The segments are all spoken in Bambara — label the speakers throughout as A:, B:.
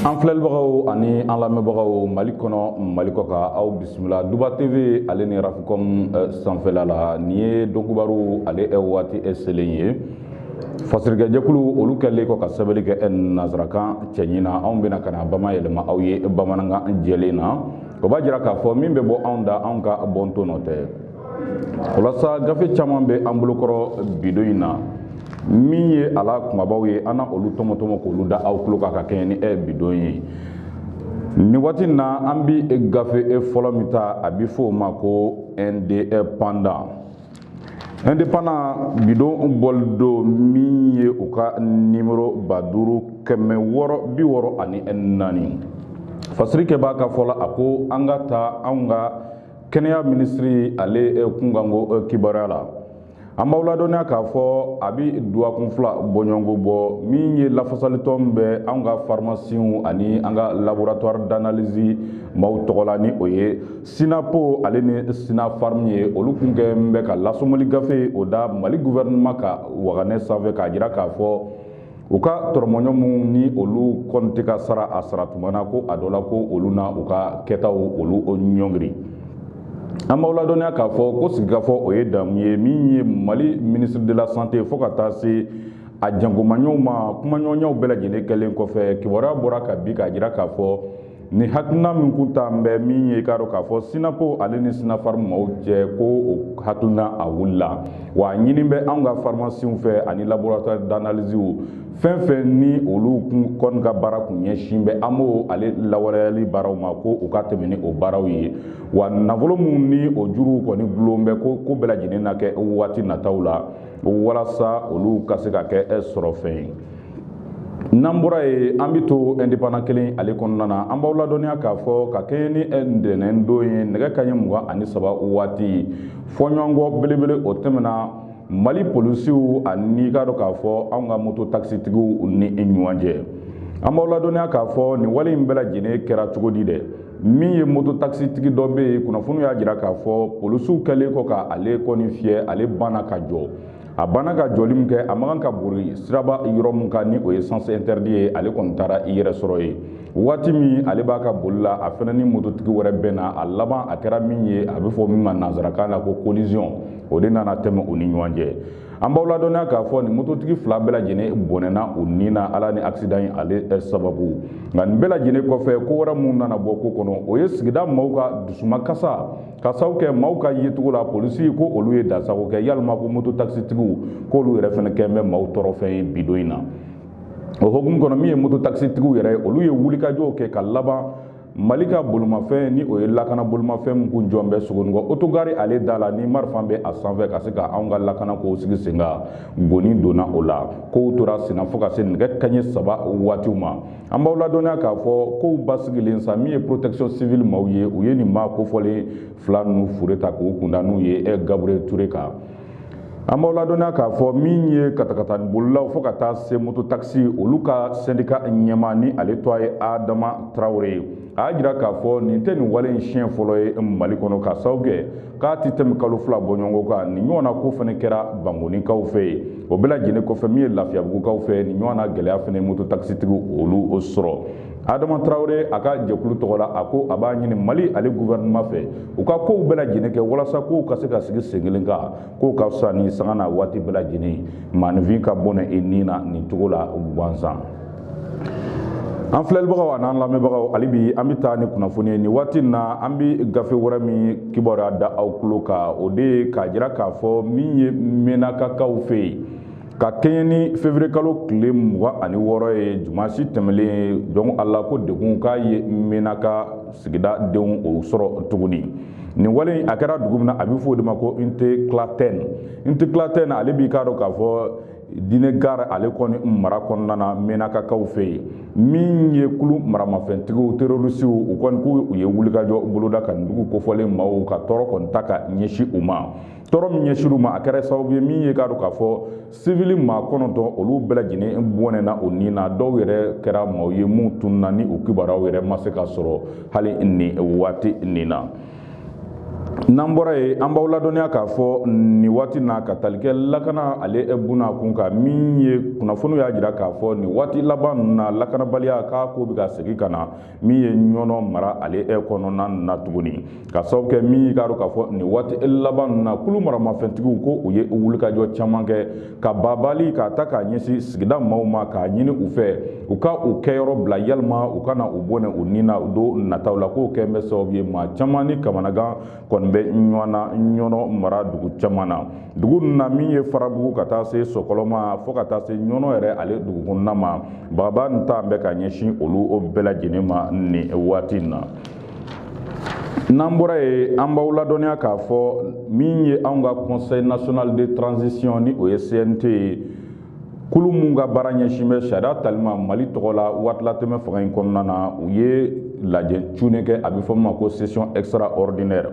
A: an filɛlibagaw ani an lamɛnbagaw mali kɔnɔ mali kɔkan aw bisimila duba tv ale ni rafcom eh, sanfɛla la nin ye donkubaru ale ɛ waati ɛ selen ye fasirikɛjɛkulu olu kɛlen kɔ ka sɛbɛnni kɛ ɛ nazarakan cɛɲi na anw bɛna ka na bamayɛlɛma aw ye bamanankan jɛlen na o b'a jira k'a fɔ min bɛ bɔ anw da anw ka bɔnto nɔ tɛ walasa gafe caman bɛ an bolokɔrɔ bidon in na min ye a lakumabaw ye an na olu tɔmɔtɔmɔ k'olu da aw tulo kan ka kɛɲɛ ni e bidon ye nin waati in na an bi gafe e fɔlɔ min ta a bɛ fɔ o ma ko indépendant indépendant bidon bɔli don min ye u ka nimoro ba duuru kɛmɛ wɔɔrɔ bi wɔɔrɔ ani naani fasirikɛbaa ka fɔ la a ko an ka taa anw ka kɛnɛya minisiri ale eh, kunkanko eh, kibaruya la an b'aw ladɔnniya k'a fɔ a bɛ duwakun fila bɔɲɔgɔnko bɔ min ye lafasalitɔn bɛ anw ka farimasiw ani an ka laboratwari danalizi maaw tɔgɔ la ni o ye sinapo ale ni sinafarimu ye olu kun kɛlen bɛ ka lasɔmili gafe o da mali guvɛrinɛma ka waganɛ sanfɛ k'a jira k'a fɔ u ka tɔrɔmɔɲɔ minnu ni olu kɔni tɛ ka sara a sara tuma na ko a dɔ la ko olu na u ka kɛtaw olu ɲɔngiri an b'aw ladɔnniya k'a fɔ ko sigikafɔ o ye damu ye min ye mali ministre de la santé fo ka taa se a jankomaɲɔw ma kumaɲɔgɔnyaw bɛɛ lajɛlen kɛlen kɔfɛ kibaruya bɔra ka bi k'a jira k'a fɔ nin hakilina min kun talen bɛ min ye k'a dɔn k'a fɔ sinapo ale ni sinafarimu maaw cɛ ko o hakilina a wulila wa a ɲini bɛ anw ka farimasiw fɛ ani laboratwari danaliziw fɛn fɛn ni olu kun kɔni ka baara kun ɲɛsin bɛ amo ale lawaleyali baaraw ma ko u ka tɛmɛ ni o baaraw ye wa nafolo minnu ni o juruw kɔni gulon bɛ ko ko bɛɛ lajɛlen na kɛ waati nataw la walasa olu ka se ka kɛ sɔrɔfɛn ye n'an bɔra yen an bɛ to indépendant kelen ale kɔnɔna na an b'aw ladɔnniya k'a fɔ ka kɛɲɛ ni ntɛnɛn don ye nɛgɛ kanɲɛ mugan ani saba waati fɔɲɔgɔnkɔ belebele o tɛmɛna mali polisiw ani k'a dɔn k'a fɔ anw ka moto takisitigiw ni ɲɔgɔn cɛ an b'aw ladɔnniya k'a fɔ nin wale in bɛɛ lajɛlen kɛra cogo di dɛ min ye moto takisitigi dɔ bɛ yen kunnafoniw y'a jira k'a fɔ polisiw kɛlen kɔ ka ale kɔni fiyɛ ale banna ka jɔ a banna ka jɔli min kɛ a man kan ka bori siraba yɔrɔ min kan ni o ye sens interdit ye ale kɔni taara i yɛrɛ sɔrɔ yen waati min ale b'a ka boli la a fɛnɛ ni mototigi wɛrɛ bɛnna a laban a kɛra min ye a bɛ fɔ min ma nanzarakan na ko collision o de nana tɛmɛ u ni ɲɔgɔn cɛ an b'aw ladɔnniya k'a fɔ nin mototigi fila bɛɛ lajɛlen bɔnɛna u ni na ala ni accident in ale eh, sababu nka nin bɛɛ lajɛlen kɔfɛ ko wɛrɛ min nana bɔ ko kɔnɔ o ye sigida maaw ka dusumakasi ka sabu kɛ maaw ka yecogo la polisi ko olu ye dansago kɛ yalima ko moto takisitigiw k'olu yɛrɛ fɛnɛ kɛn bɛ maaw tɔɔrɔfɛn ye bi don in na o hokumu kɔnɔ min ye moto takisitigiw yɛrɛ olu ye wulikajɔw kɛ ka laban mali ka bolomafɛn ni o ye lakana bolomafɛn min kun jɔn bɛ sogonikɔ otogari ale da la ni marifa bɛ a sanfɛ ka se ka anw ka lakana kow sigi sen kan goni donna o la kow tora senna fo ka se nɛgɛ kanɲɛ saba waatiw ma an b'aw ladɔnniya k'a fɔ kow basigilen sa min ye protection civile maaw ye u ye nin maa kofɔlen fila ninnu fure ta k'u kunda n'u ye eh, gabriel ture kan an b'aw ladɔnniya k'a fɔ min ye katakatanibolilaw fo ka taa se moto takisi olu ka sɛndika ɲɛmaa ni ale tɔgɔ ye adama tarawele ye a y'a jira k'a fɔ nin tɛ nin wale in siɲɛ fɔlɔ ye mali kɔnɔ ka sababu kɛ k'a tɛ tɛmɛ kalo fila bɔɲɔgɔnko kan nin ɲɔgɔn na ko fɛnɛ kɛra bankonikaw fɛ yen o bɛɛ lajɛlen kɔfɛ min ye lafiyabugukaw fɛ nin ɲɔgɔn na gɛlɛya fɛnɛ moto takisitigiw olu sɔrɔ adama tarawele a ka jɛkulu tɔgɔ la a ko a b'a ɲini mali ale guvɛrɛnɛma fɛ u ka kow bɛɛ lajɛlen kɛ walasa kow ka se ka sigi sen kelen kan k'o ka fisa ni sanga n'a waati bɛɛ lajɛlen maaninfin ka bɔnɛ i ni na nin cogo la gansan an filɛlibagaw an'an lamɛnbagaw hali bi an bɛ taa ni kunnafoni ye nin waati na an bɛ gafe wɛrɛ min kibaruya da aw tulo kan o de ye k'a jira k'a fɔ min ye mɛnakakaw fɛ yen ka kɛɲɛ ni fevrier kalo tile mugan ani wɔɔrɔ ye dimansi tɛmɛlen donc ala ko degun k'a ye mɛnaka sigida denw o sɔrɔ tuguni nin wale in a kɛra dugu min na a bɛ fɔ o de ma ko intiklatɛn intiklatɛn ale b'i k'a dɔn k'a fɔ d'inekar ale kɔni mara kɔnɔna na mɛnakakaw fɛ yen min ye kulu maramafɛntigiw terrorisiw u kɔni ko u ye wulikajɔ boloda ka nin dugu kofɔlen maaw ka tɔɔrɔ kɔni ta ka ɲɛsin u ma tɔɔrɔ min ɲɛsin u ma a kɛra sababu ye min ye k'a dɔn k'a fɔ sivili maa kɔnɔntɔn olu bɛɛ lajɛlen bɔnɛna u ni na dɔw yɛrɛ kɛra maaw ye minnu tununa ni u kibaruyaw yɛrɛ ma se ka sɔrɔ hali nin waati nin na n'an bɔra yen an b'aw ladɔnniya k'a fɔ nin waati na ka tali kɛ lakana ale bunna kun kan min ye kunnafoniw y'a jira k'a fɔ nin waati laban ninnu na lakanabaliya k'a ko bɛ ka segin ka na min ye ɲɔnɔ mara ale e kɔnɔna na tuguni ka sababu kɛ min y'i ka dɔn k'a fɔ nin waati e laban ninnu na kulu maramafɛntigiw ko u ye wulikajɔ caman kɛ ka bagabagali k'a ta ka ɲɛsin sigida maaw ma k'a ɲini u fɛ u ka u kɛyɔrɔ bila yalima u kana u bɔnɛ u ni na don nataw la k'o kɛn bɛ sababu ye maa caman ni kamanagan kɔni bɛ ɲɔgɔnna ɲɔnɔ mara dugu caman na dugu ninnu na min ye farabugu ka taa se sokolo ma fo ka taa se ɲɔnɔ yɛrɛ ale dugu kɔnɔna ma bagabaga nin ta bɛ ka ɲɛsin olu bɛɛ lajɛlen ma nin waati in na n'an bɔra yen an b'aw ladɔnniya k'a fɔ min ye anw ka conseil national de transition ni o ye cnt ye kulu minnu ka baara ɲɛsin bɛ sariya tali ma mali tɔgɔ la waatilatɛmɛ fanga in kɔnɔna na u ye lajɛ cunnen kɛ a bɛ fɔ min ma ko session extraordinaire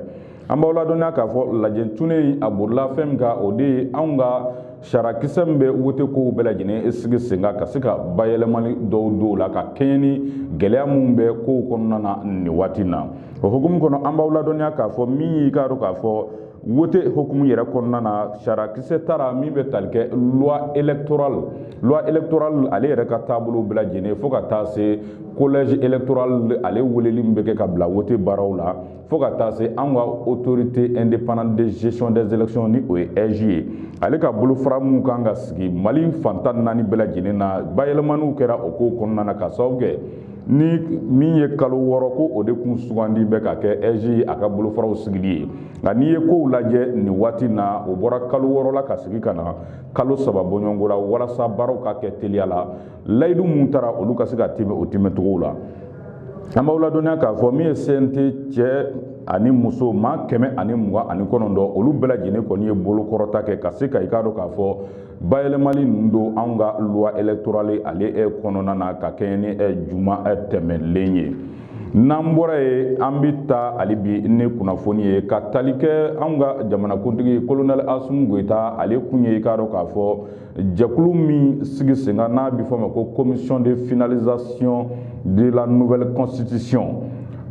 A: an b'aw ladɔnniya k'a fɔ lajɛ cunnen in a borila fɛn min kan o de ye anw ka sariyakisɛ min bɛ wote kow bɛɛ lajɛlen sigi sen kan ka se ka bayɛlɛmali dɔw don o la ka kɛɲɛ ni gɛlɛya minnu bɛ kow kɔnɔna na nin waati na o hukumu kɔnɔ an b'aw ladɔnniya k'a fɔ min y'i k'a dɔn k'a fɔ wote hukumu yɛrɛ kɔnɔna na sariyakisɛ tara min bɛ tali kɛ loi électorale loi électorale ale yɛrɛ ka taabolo bɛɛ lajɛlen fo ka taa se collège électoral ale weleli min bɛ kɛ ka bila wote baaraw la fo ka taa se an ka autorité indépendante de gestion des élections ni o ye AIGE ye ale ka bolofara minnu kan ka sigi Mali fan tan ni naani bɛɛ lajɛlen na bayɛlɛmaniw kɛra o kow kɔnɔna na k'a sababu kɛ ni min ye kalo wɔɔrɔ ko o de kun sugandi bɛ ka kɛ AIGE a ka bolofaraw sigili ye nka n'i ye kow lajɛ nin waati na o bɔra kalo wɔɔrɔ la ka sigi ka na kalo saba bɔɲɔgɔnko la walasa baaraw ka kɛ teliya la layidu minnu tara olu ka se ka tiimɛ o tiimɛcogow la an b'aw ladɔnniya k'a fɔ min ye CNT cɛ ani muso maa kɛmɛ ani mugan ani kɔnɔntɔn olu bɛɛ lajɛlen kɔni ye bolokɔrɔta kɛ ka se ka i k'a dɔn k'a fɔ bayɛlɛmali ninnu don anw ka loi électorale ale eh, kɔnɔna na ka kɛɲɛ ni eh, juma eh, tɛmɛnen ye n'an bɔra yen an bɛ taa hali bi ni kunnafoni ye ka tali kɛ anw ka jamanakuntigi kolonɛli asimi goyita ale kun ye i k'a dɔn k'a fɔ jɛkulu min sigi sen kan n'a bɛ f'a ma ko commission de finalisation de la nouvelle constitution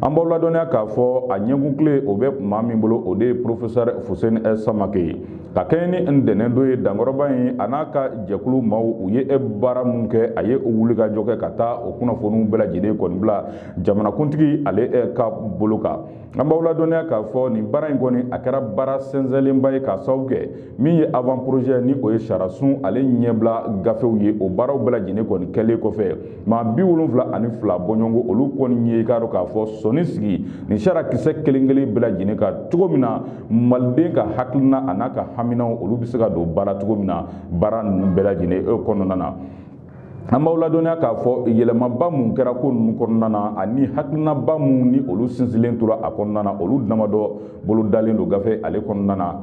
A: an b'aw ladɔnniya k'a fɔ a ɲɛkunkile o bɛ maa min bolo o de ye professeur fuseni samake ye ka kɛɲɛ ni ntɛnɛn don ye dankɔrɔba in a n'a ka jɛkulu maaw u ye e baara min kɛ a ye o wulikajɔ kɛ ka taa o kunnafoniw bɛɛ lajɛlen kɔni bila jamanakuntigi ale e, ka bolo kan an b'aw ladɔnniya k'a fɔ nin baara in kɔni a kɛra baara sɛnsɛnlenba ye k'a sababu kɛ min ye avant projet ni o ye sariyasun ale ɲɛbila gafew ye o baaraw bɛɛ lajɛlen kɔni kɛlen kɔfɛ maa bi wolonwula ani fila bɔɲɔgɔnko olu kɔni ye i k'a dɔn k'a fɔ sɔnin sigi nin sariyakisɛ kelen kelen bɛɛ lajɛlen kan cogo min na maliden ka hakilina a n'a ka haminaw olu bɛ se ka don baara cogo min na baara ninnu bɛɛ lajɛlen e kɔnɔna na an b'aw ladɔnniya k'a fɔ yɛlɛmaba minnu kɛra ko ninnu kɔnɔna na ani hakilinaba minnu ni olu sinsinlen tora a kɔnɔna na olu damadɔ bolodalen don gafe ale kɔnɔna na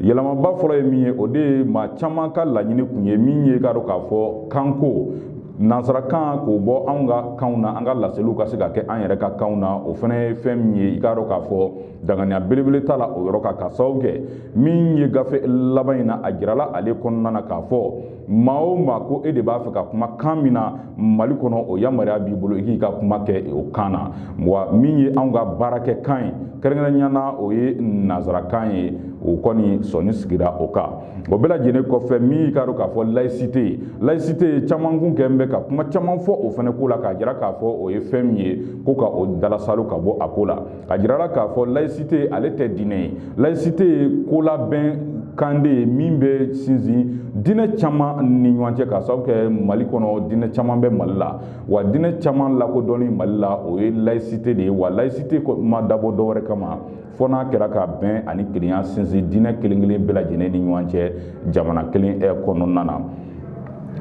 A: yɛlɛmaba fɔlɔ ye min ye o de ye maa caman ka laɲini kun ye min ye i k'a dɔn k'a fɔ kanko nansarakan k'o bɔ anw ka kanw na an ka laseliw ka se ka kɛ an yɛrɛ ka kanw na o fana ye fɛn min ye i k'a dɔn k'a fɔ danganiya belebele t'a la o yɔrɔ kan k'a sababu kɛ min ye gafe laban in na a jirala ale kɔnɔna na k'a fɔ maa o maa ko e de b'a fɛ ka kuma kan min na mali kɔnɔ o yamaruya b'i bolo i k'i ka kuma kɛ o kan na wa min ye anw ka baarakɛ kan ye kɛrɛnkɛrɛnya na o ye nanzarakan ye o kɔni sɔnni sigira o kan o bɛɛ lajɛlen kɔfɛ min y'i k'a dɔn k'a fɔ layisite ye layisite ye caman tun kɛlen bɛ ka kuma caman fɔ o fana ko la k'a jira k'a fɔ o ye fɛn min ye ko ka o dalasalo ka bɔ a ko la a jirala k'a fɔ laïcité ale tɛ diinɛ ye laïcité ye ko la bɛnkan de ye min bɛ sinsin diinɛ caman ni ɲɔgɔn cɛ k'a sababu kɛ mali kɔnɔ diinɛ caman bɛ mali la wa diinɛ caman lakodɔnni mali la o ye laïcité de ye wa laïcité ma dabɔ dɔwɛrɛ kama fo n'a kɛra ka bɛn ani kelenya sinsin diinɛ kelen kelen bɛɛ lajɛlen ni ɲɔgɔn cɛ jamana kelen kɔnɔna na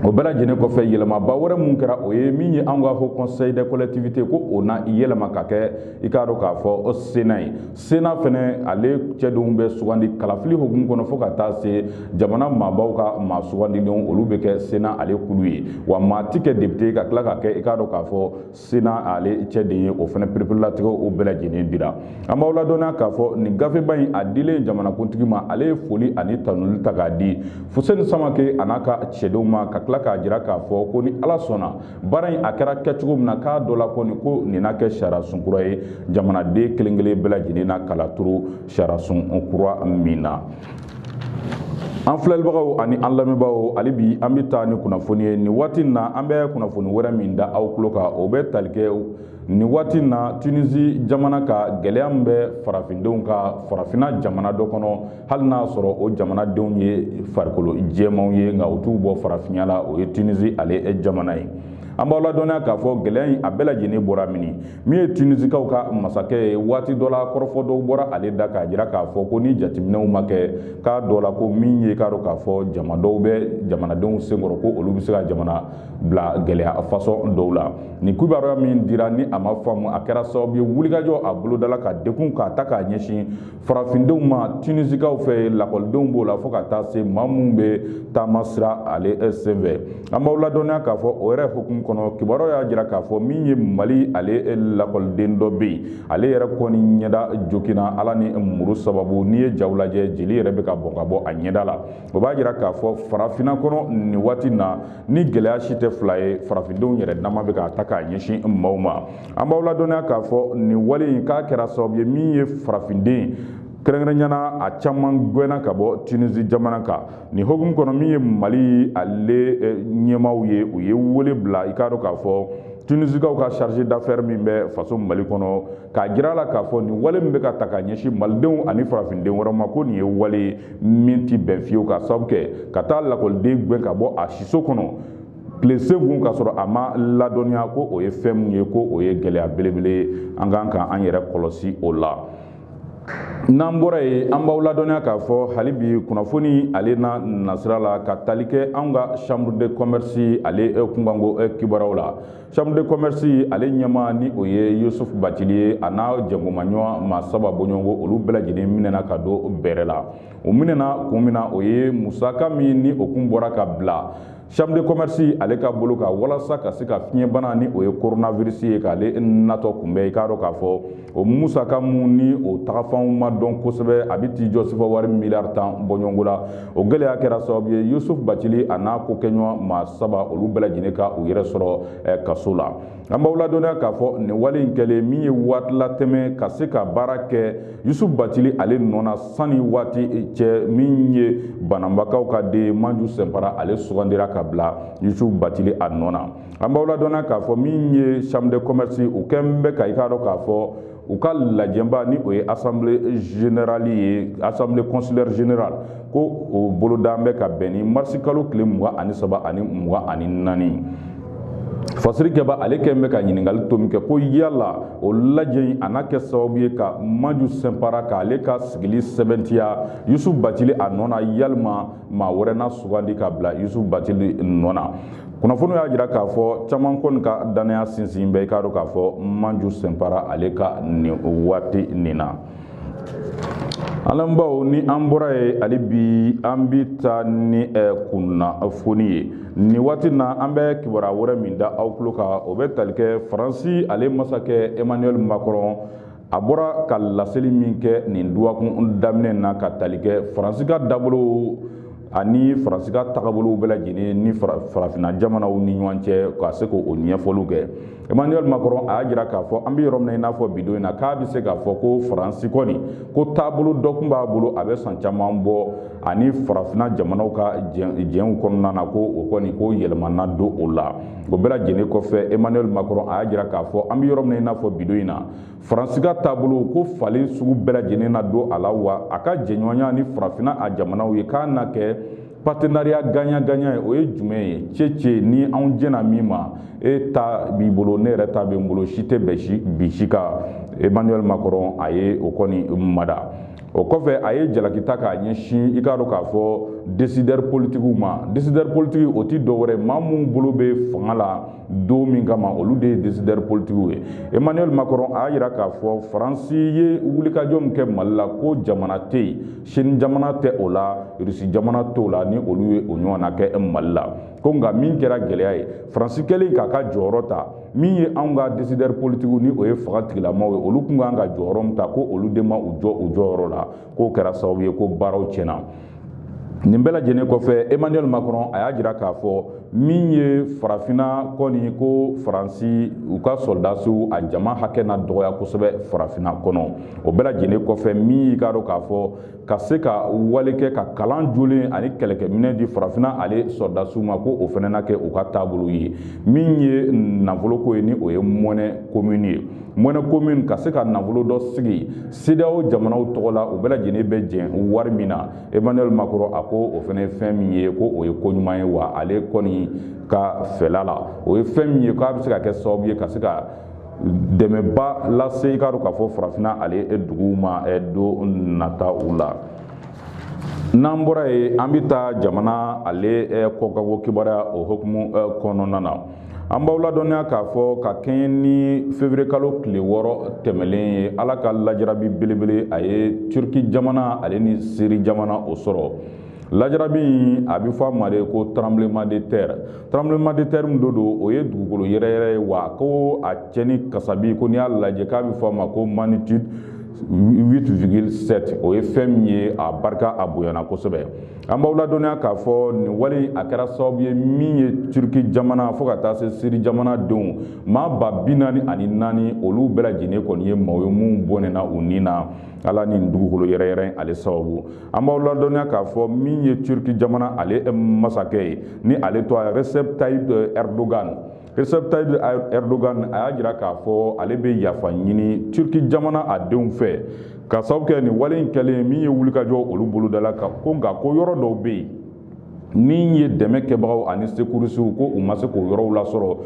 A: o bɛɛ lajɛlen kɔfɛ yɛlɛmaba wɛrɛ mun kɛra o ye min ye an ka haut conseil des collectivités ko o na yɛlɛma ka kɛ i k'a dɔn k'a fɔ sena ye sena fɛnɛ ale cɛdenw bɛ sugandi kalafili hukumu kɔnɔ fo ka taa se jamana maabaw ka maa sugandilenw olu bɛ kɛ sena ale kulu ye wa maa ti kɛ depite ka tila ka kɛ i k'a dɔn k'a fɔ sena ale cɛden ye o fana pereperelatigɛ o bɛɛ lajɛlen dira an b'aw ladɔnniya k'a fɔ nin gafeba in a dilen jamanakuntigi ma ale ye foli ani tanuli ta k'a di fuseni samake a n'a ka cɛdenw ma ka tila k'a jira k'a fɔ ko ni ala sɔnna baara in a kɛra kɛcogo min na k'a dɔ la kɔni ko nin na kɛ sariyasun kura ye jamanaden kelen kelen bɛɛ lajɛlen na kala turu sariyasun kura min na an filɛlibagaw ani an lamɛnbaaw hali bi an bɛ taa ni kunnafoni ye nin waati in na an bɛ kunnafoni wɛrɛ min da aw tulo kan o bɛ tali kɛ nin waati in na tunisi jamana kan gɛlɛya min bɛ farafindenw kan farafinna jamana dɔ kɔnɔ hali n'a sɔrɔ o jamanadenw ye farikolo jɛmanw ye nka u t'u bɔ farafinya la o ye tunisi ale jamana ye an b'aw ladɔnniya k'a fɔ gɛlɛya in a bɛɛ lajɛlen bɔra min min ye tunisikaw ka masakɛ ye waati dɔ la kɔrɔfɔ dɔw bɔra ale da k'a jira k'a fɔ ko ni jateminɛw ma kɛ k'a dɔ la ko min ye k'a dɔn k'a fɔ jama dɔw bɛ jamanadenw senkɔrɔ ko olu bɛ se ka jamana bila gɛlɛya fasɔn dɔw la nin kibaruya min dira ni a ma faamu a kɛra sababu ye wulikajɔ a bolodala ka degun k'a ta k'a ɲɛsin farafindenw ma tunisikaw fɛ lakɔlidenw b'o la fo ka taa se maa minnu bɛ taama sira ale eh, senfɛ an b'aw ladɔnniya k'a fɔ o yɛrɛ hukumu kɔnɔ kibaruyaw y'a jira k'a fɔ min ye mali ale eh, lakɔliden dɔ bɛ yen ale yɛrɛ kɔni ɲɛda joginna a la ni muru sababu n'i ye jaw lajɛ jeli yɛrɛ bɛ ka bɔn ka bɔ a ɲɛda la o b'a jira k'a fɔ farafinna kɔnɔ nin waati na ni gɛlɛya si tɛ fila ye farafindenw yɛrɛ dama bɛ k'a ta k'a ɲɛsin maaw ma an b'aw ladɔnniya k'a fɔ nin wale in k'a kɛra sababu ye min ye farafinden kɛrɛnkɛrɛnyana a caman gwɛnna ka bɔ tunisi jamana kan nin hukumu kɔnɔ min ye mali ale eh, ɲɛmaaw ye u ye wele bila i k'a dɔn k'a fɔ tunisikaw ka chargé d'affaires min bɛ faso mali kɔnɔ k'a jira a la k'a fɔ nin wale min bɛ ka ta ka ɲɛsin malidenw ani farafinden wɛrɛ ma ko nin ye wale min tɛ bɛn fiyewu ka sababu kɛ ka taa lakɔliden gɛn ka bɔ a siso kɔnɔ tile senkun ka sɔrɔ a ma ladɔnniya ko o ye fɛn min ye ko o ye gɛlɛya belebele ye an kan ka an yɛrɛ kɔlɔsi o la n'an bɔra yen an b'aw ladɔnniya k'a fɔ hali bi kunnafoni ale na nasira la ka tali kɛ an ka chambre de commerce ale kunkanko kibaruyaw la chambre de commerce ale ɲɛmaa ni o ye yusuf bacili ye a n'a jɛngomaɲɔgɔn maa saba bɔɲɔgɔnko olu bɛɛ lajɛlen minɛna ka don bɛrɛ la o minɛna kun min na o ye musaka min ni o kun bɔra ka bila chambre de commerce ale ka bolo kan walasa ka se ka fiɲɛbana ni o ye coronavirus ye k'ale natɔ kunbɛn i k'a dɔn k'a fɔ o musaka mun ni o tagafanw ma dɔn kosɛbɛ a bɛ t'i jɔ sefa wari miliyari tan bɔɲɔgɔnko la o gɛlɛya kɛra sababu ye yusuf bacili a n'a kokɛɲɔgɔn maa saba olu bɛɛ lajɛlen ka u yɛrɛ sɔrɔ eh, kaso la an b'aw ladɔnniya k'a fɔ nin wale in kɛlen min ye waati latɛmɛ ka se ka baara kɛ yusuf bacili ale nɔ na sanni waati cɛ min ye bananbakaw ka den manju sɛnpara ale sugandira ka bila yusuf bacili a nɔ na an b'aw ladɔnniya k'a fɔ min ye chambre de commerce u kɛn bɛ ka i k'a dɔn k'a fɔ u ka lajɛba ni o ye assemblée générale ye assemblée consulaire générale ko o bolodaan bɛ ka bɛn ni marisi kalo tile mugan ani saba ani mugan ani naani fasirikɛbaa ale kɛn bɛ ka ɲininkali tomi kɛ ko yala o lajɛ in a na kɛ sababu ye ka maju sɛnpara k'ale ka sigili sɛbɛntiya yusufu bacili a nɔ na yalima maa wɛrɛ na sugandi ka bila yusufu batili nɔ na kunnafoni y'a jira k'a fɔ caman kɔni ka dannaya sinsin bɛ i k'a dɔn k'a fɔ manju sɛnpara ale kan nin waati nin na an lamɛnbaaw ni an bɔra yen hali bi an bi taa ni eh, kunnafoni ye nin waati na an bɛ kibaruya wɛrɛ min da aw tulo kan o bɛ tali kɛ faransi ale masakɛ emmanuel macron a bɔra ka laseli min kɛ nin duwakun daminɛ na ka tali kɛ faransi ka dabolo ani faransi ka tagabolow bɛɛ lajɛlen ni farafinna jamanaw ni ɲɔgɔn cɛ ka se k'o ɲɛfɔliw kɛ emmanuel macron a y'a jira k'a fɔ an bɛ yɔrɔ min na i n'a fɔ bi don in na k'a bɛ se k'a fɔ ko faransi kɔni ko taabolo dɔ tun b'a bolo a bɛ san caman bɔ ani farafinna jamanaw ka jɛnw kɔnɔna na ko o kɔni ko yɛlɛma na don o la o bɛɛ lajɛlen kɔfɛ emmanuel macron a y'a jira k'a fɔ an bɛ yɔrɔ min na i n'a fɔ bi don in na faransi ka taabolo ko falen sugu bɛɛ lajɛlen na don a la wa a ka jɛɲɔgɔnya ni farafinna a jamanaw ye k'a na kɛ partenariat gagnant-gagnant ye o ye jumɛn ye cece ni anw jɛna min ma e ta b'i bolo ne yɛrɛ ta bɛ n bolo si tɛ bin si kan emmanuel macron a ye o kɔni mada o kɔfɛ a ye jalaki ta k'a ɲɛsin i k'a dɔn k'a fɔ décideur politikiw ma décideur politiki o tɛ dɔwɛrɛ maa minnu bolo bɛ fanga la don min kama olu de ye décideur politikiw ye emmanuel macron a y'a jira k'a fɔ faransi ye wulikajɔ min kɛ mali la ko jamana tɛ yen chine jamana tɛ o la rusi jamana t'o la ni olu ye o ɲɔgɔnna kɛ mali la ko nka min kɛra gɛlɛya ye faransi kɛlen k'a ka jɔyɔrɔ ta min ye anw ka décideur politikiw ni o ye fanga tigilamaw ye olu kun kan ka jɔyɔrɔ min ta ko olu de ma u jɔ u jɔyɔrɔ la k'o kɛra sababu ye ko baaraw tiɲɛna nin bɛɛ lajɛlen kɔfɛ emmanuel macron a y'a jira k'a fɔ min ye farafinna kɔni ko faransi u ka sɔrɔdasiw a jama hakɛ na dɔgɔya kosɛbɛ farafinna kɔnɔ o bɛɛ lajɛlen kɔfɛ min y'i k'a dɔn k'a fɔ ka se ka wale kɛ ka kalan jolen ani kɛlɛkɛminɛn di farafinna ale sɔrɔdasiw ma ko o fana na kɛ u ka taabolo ye min ye nafoloko ye ni o ye monnaie commune ye monnaie commune ka se ka nafolo dɔ sigi cedeao jamanaw tɔgɔ la u bɛɛ lajɛlen bɛ jɛn wari min na emmanuel macron a ko o fana ye fɛn min ye ko o ye ko ɲuman ye wa ale kɔni ka fɛla la o ye fɛn min ye k'a bɛ se ka kɛ sababu ye ka se ka dɛmɛba lase i k'a dɔn k'a fɔ farafinna ale duguw ma don nataw la n'an bɔra yen an bɛ taa jamana ale kɔkanko kibaruya o hukumu kɔnɔna na an b'aw ladɔnniya k'a fɔ ka kɛɲɛ ni février kalo tile wɔɔrɔ tɛmɛlen ye ala ka lajarabi belebele a ye turki jamana ale ni siri jamana o sɔrɔ Lajarabi in a bɛ fɔ a ma de ko tremblement de terre tremblement de terre mun do don o ye dugukolo yɛrɛyɛrɛ ye wa ko a cɛnni kasabi ko n'i y'a lajɛ k'a bɛ fɔ a ma ko magnitude 8,7 o ye fɛn min ye a barika a bonyana kosɛbɛ an b'aw ladɔnniya k'a fɔ nin wale a kɛra sababu ye min ye Turki jamana fo ka taa se Siri jamana denw maa ba bi naani ani naani olu bɛɛ lajɛlen kɔni ye maaw ye minnu bɔnɛna u ni na a la nin dugukolo yɛrɛyɛrɛ ale sababu an b'aw ladɔnniya k'a fɔ min ye turki jamana ale eh, masakɛ ye ni ale tɔgɔ recep tayyip eh, erdogan recep tayyip eh, erdogan a y'a jira k'a fɔ ale bɛ yafa ɲini turki jamana a denw fɛ k'a sababu kɛ nin wale in kɛlen min ye wulikajɔ olu bolodala ka ko nka ko yɔrɔ dɔw bɛ yen min ye dɛmɛ kɛbagaw ani sekurisiw ko u ma se k'o yɔrɔw lasɔrɔ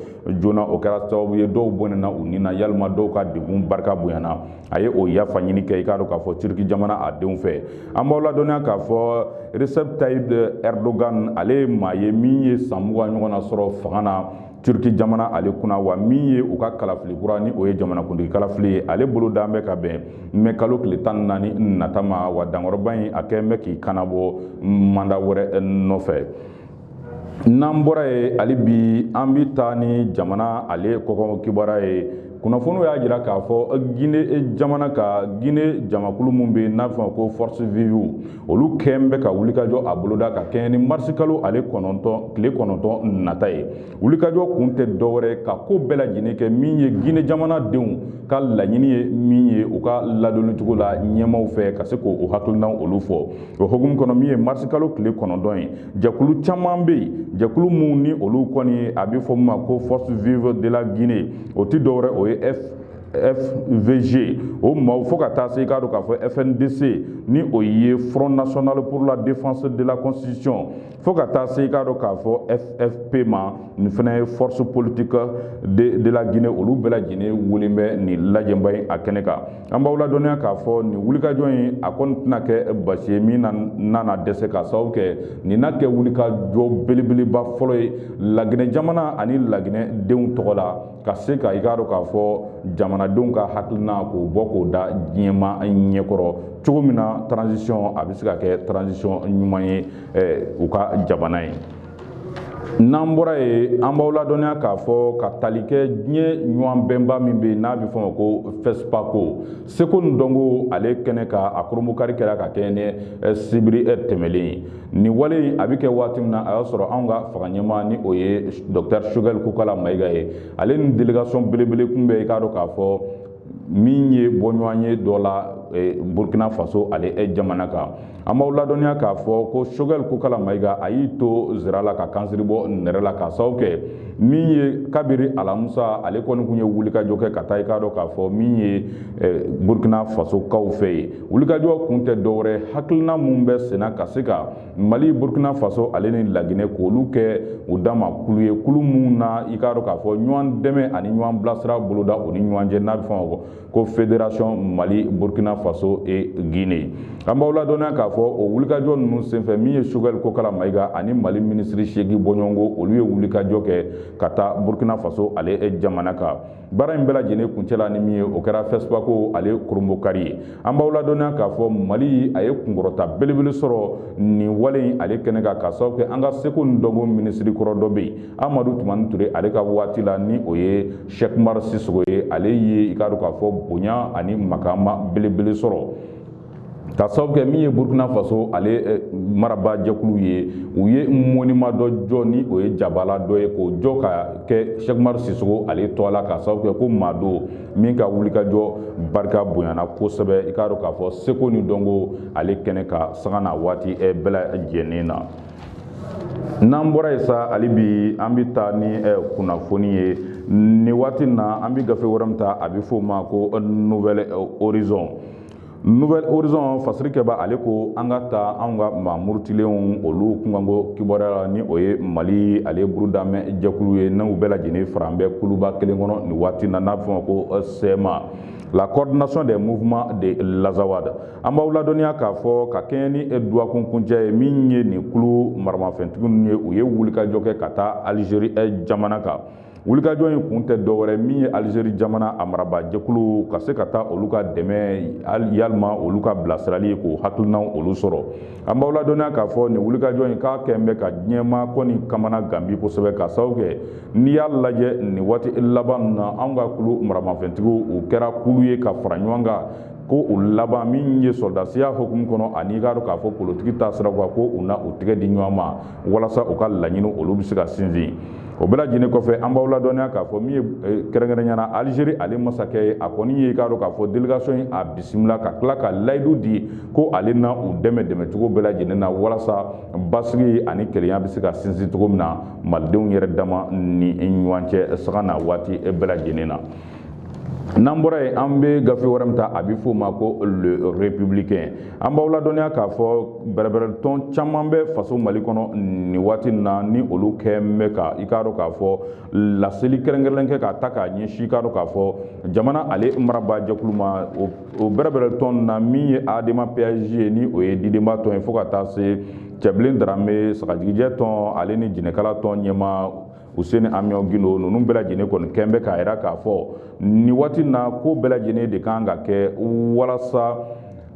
A: joona o kɛra sababu ye dɔw bɔnɛna u ni na yalima dɔw ka degun barika bonyana a ye o yafa ɲini kɛ i k'a dɔn k'a fɔ turki jamana a denw fɛ an b'aw ladɔnniya k'a fɔ recep tayyip erdogan ale ye maa ye min ye san mugan ɲɔgɔnna sɔrɔ fanga na Turki jamana ale kunna wa min ye u ka kalafili kura ni o ye jamanakuntigi kalafili ye ale bolodalen bɛ ka bɛn mɛ kalo tile tan ni naani nata ma wa dankɔrɔba in a kɛlen bɛ k'i kanabɔ manda wɛrɛ nɔfɛ n'an bɔra yen hali bi an bɛ taa ni jamana ale kɔkan kibaruya ye kunnafoniw y'a jira k'a fɔ gine jamana ka gine jamakulu min bɛ n'a bɛ fɔ ma ko force vive olu kɛlen bɛ ka wulikajɔ a boloda ka kɛɲɛ ni marisi kalo ale kɔnɔntɔn tile kɔnɔntɔn nata ye wulikajɔ kun tɛ dɔwɛrɛ ka ko bɛɛ lajɛlen kɛ min ye gine jamana denw ka laɲini ye min ye u ka ladonni cogo la ɲɛmaw fɛ ka se k'o hakilinaw olu fɔ o hukumu kɔnɔ min ye marisi kalo tile kɔnɔntɔn ye jɛkulu caman bɛ yen jɛkulu minnu ni olu kɔni a bɛ fɔ min ma ko force vive de la guinee o tɛ dɔwɛrɛ o ye f FVG o maaw fo ka taa se i k'a dɔn k'a fɔ FNDC ni o ye Front National pour la Défense de la Constitution fo ka taa se i k'a dɔn k'a fɔ FFP ma nin fana ye force politique de, de la Guinée olu bɛɛ lajɛlen welelen bɛ nin lajɛnba in a kɛnɛ kan an b'aw ladɔnniya k'a fɔ nin wulikajɔ in a kɔni tɛna kɛ baasi ye min na na dɛsɛ k'a sababu kɛ nin na kɛ wulikajɔ belebeleba fɔlɔ ye Laginɛ jamana ani Laginɛ denw tɔgɔ la ka se ka i k'a dɔn k'a fɔ jamanadenw ka hakilina k'o bɔ k'o da diɲɛmaa ɲɛkɔrɔ cogo min na transition a bɛ se ka kɛ transition ɲuman ye u ka jamana ye n'an bɔra yen an b'aw ladɔnniya k'a fɔ ka tali kɛ diɲɛ ɲɔgɔn bɛnba min bɛ yen n'a bɛ fɔ ma ko FESPACO seko ni dɔnko ale kɛnɛ kan a kurunbonkari kɛra ka kɛɲɛ ni sibiri tɛmɛlen ye Nin wale in a bɛ kɛ waati min na a y'a sɔrɔ anw ka fanga ɲɛmaa ni o ye Docteur Choguel Kokala Mayiga ye ale ni délégation belebele kun bɛ i k'a dɔn k'a fɔ min ye bɔɲɔgɔnye dɔ la eh, Burkina Faso ale eh, jamana kan an b'aw ladɔnniya k'a fɔ ko Choguel Kokala Mayiga a y'i to zira la ka kansiri bɔ nɛrɛ la k'a sababu kɛ min ye kabiri alamusa ale kɔni kun ye wulikajɔ kɛ ka taa i k'a dɔn k'a fɔ min ye eh, Burkina Faso kaw fɛ yen wulikajɔ kun tɛ dɔwɛrɛ hakilina min bɛ senna ka se ka mali burkina faso ale ni laginɛ k'olu kɛ u dama kulu ye kulu min na i k'a dɔn k'a fɔ ɲɔgɔn dɛmɛ ani ɲɔgɔn bilasira boloda u ni ɲɔgɔn cɛ n'a bɛ fɔ o ma ko fédération mali burkina faso et guinée an b'aw ladɔnniya k'a fɔ o wulikajɔ ninnu senfɛ min ye Choguel kokala mayiga ani mali minisiri segin bɔɲɔgɔnko olu ye wulikajɔ kɛ ka taa burkina faso ale jamana kan baara in bɛɛ lajɛlen kuncɛla ni min ye o kɛra FESPACO ale kurunbonkari ye an b'aw ladɔnniya k'a fɔ mali a ye kunkɔrɔta belebele sɔrɔ nin wale in ale kɛnɛ kan k'a sababu kɛ an ka seko ni dɔnko minisiri kɔrɔ dɔ bɛ yen amadu tumani ture ale ka waati la ni o ye Cheick Oumar Sissoko ye ale ye i k'a dɔn k'a fɔ bonya ani makama belebele sɔrɔ ka sababu kɛ min ye burukina faso ale eh, marabaa jɛkulu ye u ye moniman dɔ jɔ ni o ye jabala dɔ ye k'o jɔ ka kɛ Cheick Oumar Sissoko ale tɔgɔ la ka sababu kɛ ko maa don min ka wulikajɔ barika bonyana kosɛbɛ i k'a dɔn k'a fɔ seko ni dɔnko ale kɛnɛ kan sanga na waati eh, bɛɛ lajɛlen na n'an bɔra yen sa hali bi an bɛ taa ni eh, kunnafoni ye nin waati na an bɛ gafe wɛrɛ min ta a bɛ f'o ma ko nouvel horizon nouvel horizon fasirikɛbaa ale ko an ka taa anw ka maa murutilenw olu kunkanko kibaruya la ni o ye mali ale burudamɛ jɛkulu ye n'u bɛɛ lajɛlen faran bɛ kuluba kelen kɔnɔ nin waati na n'a bɛ f'o ma ko euh, CMA la coordination des mouvements de l'azawad an b'aw ladɔnniya k'a fɔ ka kɛɲɛ ni e dɔgɔkun kuncɛ ye min ye nin kulu maramafɛntigiw ye u ye wulikajɔ kɛ ka taa alizeri euh, jamana kan wulikajɔ in kun tɛ dɔwɛrɛ min ye alizeri jamana a marabaajɛkulu ka se ka taa olu ka dɛmɛ yalima olu ka bilasirali k'u hakilinaw olu sɔrɔ an b'aw ladɔnniya k'a fɔ nin wulikajɔ in k'a kɛn bɛ ka diɲɛ maa kɔni kamanagan bi kosɛbɛ ka sababu kɛ n'i y'a lajɛ nin waati laban na anw ka kulu maramafɛntigiw u kɛra kulu ye ka fara ɲɔgɔn kan k'u labɛn min ye sɔrɔdasiya hukumu kɔnɔ ani i k'a dɔn k'a fɔ politiki taasira kan ko u na u tɛgɛ di ɲɔgɔn ma walasa u ka laɲini olu bɛ se ka sinsin o bɛɛ lajɛlen kɔfɛ an b'aw ladɔnniya k'a fɔ min ye eh, kɛrɛnkɛrɛnya na alizeri ale masakɛ ye a kɔni ye i k'a dɔn k'a fɔ delegasiyɔn in a bisimila ka tila ka layidu di ko ale na u dɛmɛ dɛmɛcogo bɛɛ lajɛlen na walasa basigi ani kelenya bɛ se ka sinsin cogo min na malidenw yɛrɛ dama ni ɲɔgɔn cɛ sanga na waati bɛɛ lajɛlen na n'an bɔra yen an bɛ gafe wɛrɛ min ta a bɛ f'o ma ko le républicain an b'aw ladɔnniya k'a fɔ bɛrɛbɛrɛtɔn caman bɛ faso mali kɔnɔ nin waati na ni olu kɛn bɛ ka i k'a dɔn k'a fɔ laseli kɛrɛnkɛrɛnnen kɛ ka taa k'a ɲɛsin i k'a dɔn k'a fɔ jamana ale marabaa jɛkulu ma o bɛrɛbɛrɛtɔn na min ye adema PASJ ye ni o ye didenba tɔn ye fo ka taa se cɛbilen darame sagajigijɛ tɔn ale ni jɛnɛkala tɔn ɲɛmaa Housseini Amion Guindo ninnu bɛɛ lajɛlen kɔni kɛn bɛ k'a jira k'a fɔ nin waati na ko bɛɛ lajɛlen de kan ka kɛ walasa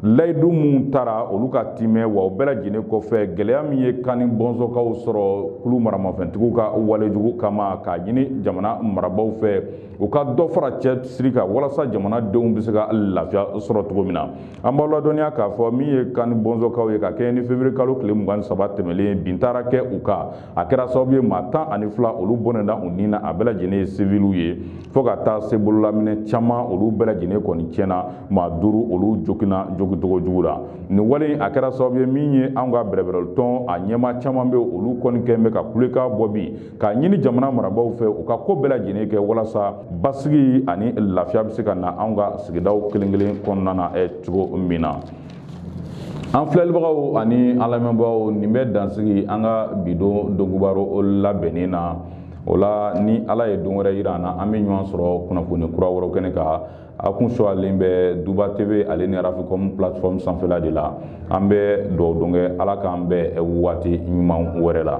A: layidu minnu tara olu ka timɛ wa o bɛɛ lajɛlen kɔfɛ gɛlɛya min ye kani bɔnsɔnkaw sɔrɔ kulu maramafɛntigiw ka walejugu kama k'a ɲini jamana marabaaw fɛ u ka dɔ fara cɛsiri kan walasa jamanadenw bɛ se ka lafiya sɔrɔ cogo min na an b'aw ladɔnniya k'a fɔ min ye kani bɔnsɔnkaw ye ka kɛɲɛ ni fevrier kalo tile mugan ni saba tɛmɛlen bin taara kɛ u kan a kɛra sababu ye maa tan ani fila olu bɔnɛna u ni na a bɛɛ lajɛlen ye siviliw ye fo ka taa se bololaminɛn caman olu bɛɛ lajɛlen kɔni tiɲɛna maa duuru olu joginna jogincogo jugu la nin wale a kɛra sababu ye min ye anw ka bɛrɛbɛrɛlitɔn a ɲɛmaa caman bɛ olu kɔni kɛn bɛ ka kulekan bɔ bi k'a ɲini jamana marabaaw fɛ u ka ko bɛɛ lajɛlen kɛ walasa basigi ani lafiya bɛ se ka na anw ka sigidaw kelen kelen kɔnɔna na cogo min na an filɛlibagaw ani an lamɛnbagaw nin bɛ dansigi an ka bidon donkibaro labɛnnen na o la ni ala ye don wɛrɛ yira an na an bɛ ɲɔgɔn sɔrɔ kunnafoni kura wɛrɛ kɛnɛ kan a kun sɔrɔlen bɛ duba tv ale ni rafikɔm plateforme sanfɛla de la an bɛ dugawu don kɛ ala k'an bɛn waati ɲuman wɛrɛ la